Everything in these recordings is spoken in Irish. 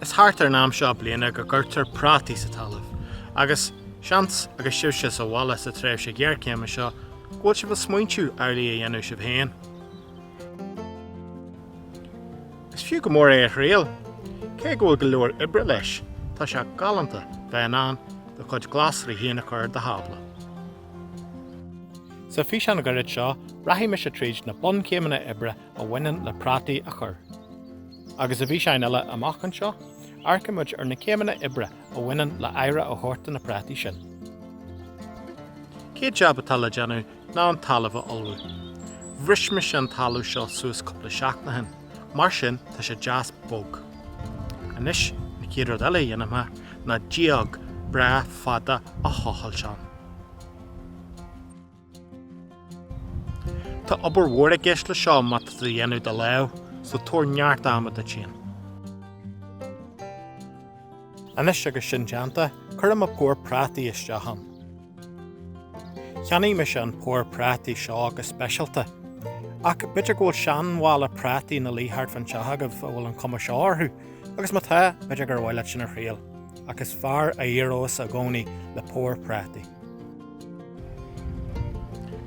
Is thart ar an am seo bliana go gcuirtear prátaí sa talamh, agus, seans, agus sibhse sa bhaile sa tréimhse ghéarchéime seo, go bhfuil sibh ag smaointiú amhlaidh a dhéanamh sibh féin. Is fiú go mór é a thriail. Cé go bhfuil go leor oibre leis, tá sé galánta bheith in ann do chuid glasraí féin a chur ar do thábla. Sa físeán gairid seo, rachaidh mise tríd na bunchéimeanna oibre a bhaineann le prátaí a chur. agus i bhfíseáin eile amach anseo, amharcfaidh muid ar na céimeanna oibre a bhaineann le haire a thabhairt do na prátaí sin. An chéad jab atá le déanamh ná an talamh a ullmhú. Bhris mise an talamh seo suas cúpla seachtain ó shin, mar sin tá sé deas bog. Anois, an chéad rud eile a dhéanfaidh mé ná díog breá fada a thochailt ann. Tá obair mhór i gceist le seo má tá tú á dhéanamh de lámh, so tabhair neart ama duit féin. Anois agus sin déanta, cuirfidh mé pór prátaí isteach ann. Cheannaigh mise an pór prátaí seo go speisialta, ach b'fhéidir go bhfuil seanmhála prátaí ina luí thart fán teach agaibh a bhfuil an cuma seo orthu, agus má tá, b'fhéidir gur mhaith leat sin a thriail, ach is fearr a éireos i gcónaí le pór prátaí.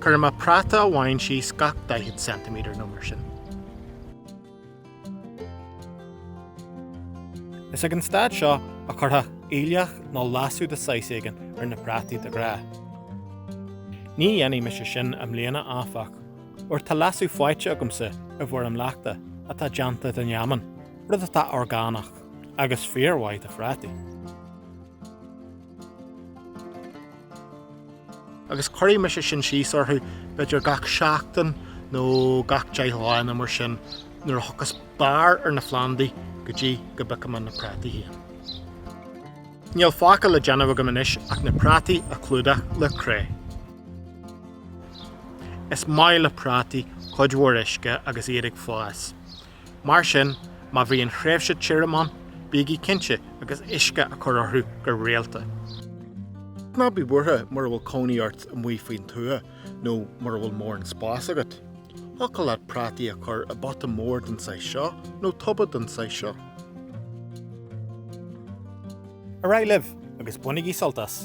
Cuirfidh mé práta amháin síos gach daichead ceintiméadar nó mar sin. Is ag an staid seo a chuirfeá aoileach nó leasú de saghas éigin ar na prátaí de ghnáth. Ní dhéanfaidh mise sin i mbliana áfach, óir tá leasú faighte agamsa i bhfoirm leachta atá déanta den fheamainn, rud atá orgánach agus fíor-mhaith do phrátaí. Agus cuirfidh mise sin síos orthu, b'fhéidir gach seachtain nó gach deich lá nó mar sin, nuair a thiocfas barr ar na phlandaí go dtí go bpiocfaidh mé na prátaí féin. Níl fágtha le déanamh agam anois ach na prátaí a chlúdach le cré. Is maith le prátaí cuid mhór uisce agus iad ag fás. Mar sin, má bhíonn tréimhse tirim ann, bígí cinnte agus uisce a chur orthu go rialta. Ná bí buartha mura bhfuil cónaí ort amuigh faoin tuath nó mura bhfuil mórán spás agat. Thiocfadh leat prátaí a chur i bpota mór den saghas seo nó toba den saghas seo. Ar aghaidh libh agus bainigí sult as!